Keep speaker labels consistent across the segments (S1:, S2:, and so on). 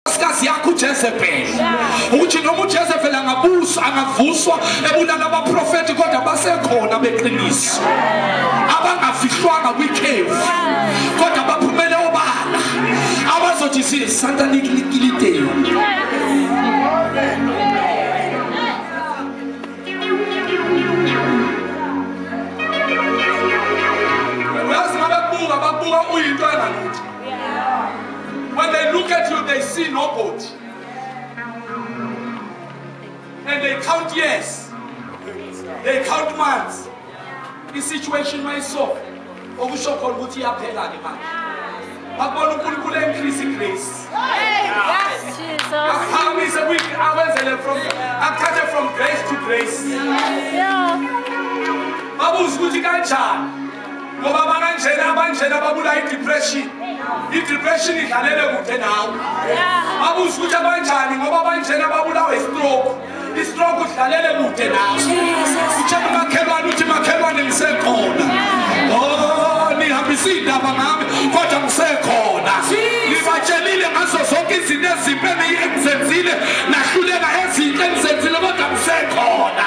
S1: inkosikazi yakho ujezebheli ukuthi noma ujezebheli angabusa angavuswa ebulala abaprofethi kodwa basekhona beqiniso abangafihlwanga kwikhefu kodwa baphumele obala abazothi sisanta likiliteni When they look at you, they see nobody. And they count years. They count months. The situation myself. okusho khona ukuthi iyaphela-ke manje bakubona unkulunkulu encrease igrace
S2: akuhambise akwenzele from
S1: akuthathe from grace to grace babuze ukuthi kanjani ngoba bakanjena abanjena babula idepression idepression idlalele kude nawe babuze ukuthi abanjani ngoba abanjena babulawa istroke istroke udlalele kude nawe utshela umakhelwane uthi makhelwane ngisekhona o oh, nihambisa iy'ndaba ngami kodwa ngisekhona ngibatshelile ngazo zonke izinto ezimpe engizenzile nahluleka ezinhle engizenzile kodwa ngisekhona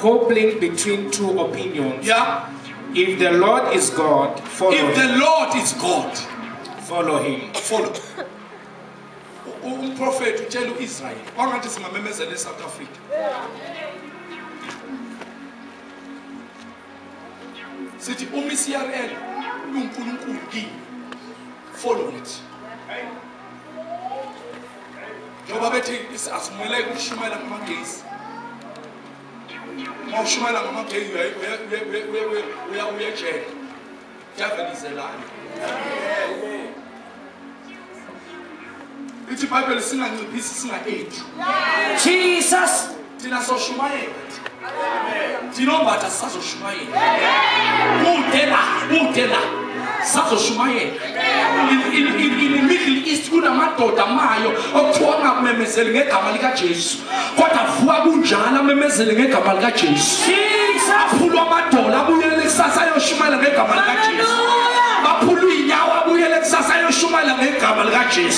S3: Coupling between two opinions. Yeah. If the Lord is God, follow If the him. Lord is God,
S1: follow him. Follow. umprofethi utshela u-israyeli kwangathi singamemezela e-south africa sithi uma i-crl unkulunkulu kini follow it njengoba bethi asivumele ukushumayela ngamagesi uma ushumayela ngamagesi uyejele kuyavelizelayo ithi ibhayibheli singanciphisi singa-eight jesus
S2: Thina
S1: soshumayela nje. Thina ombatha sisazoshumayela. Kude la, kude la. Sazoshumayela. In- in- in- In the Middle East kunamadoda amayo okuthiwa angakumemezeli ngegama likaJesu. Kodwa vuka kunjalo amemezele ngegama likaJesu. Jesus. Aphulwe amadola abuyele kusasa ayoshumayela ngegama likaJesu. Hallelujah. Baphulwe inyawo abuyele kusasa ayoshumayela ngegama likaJesu.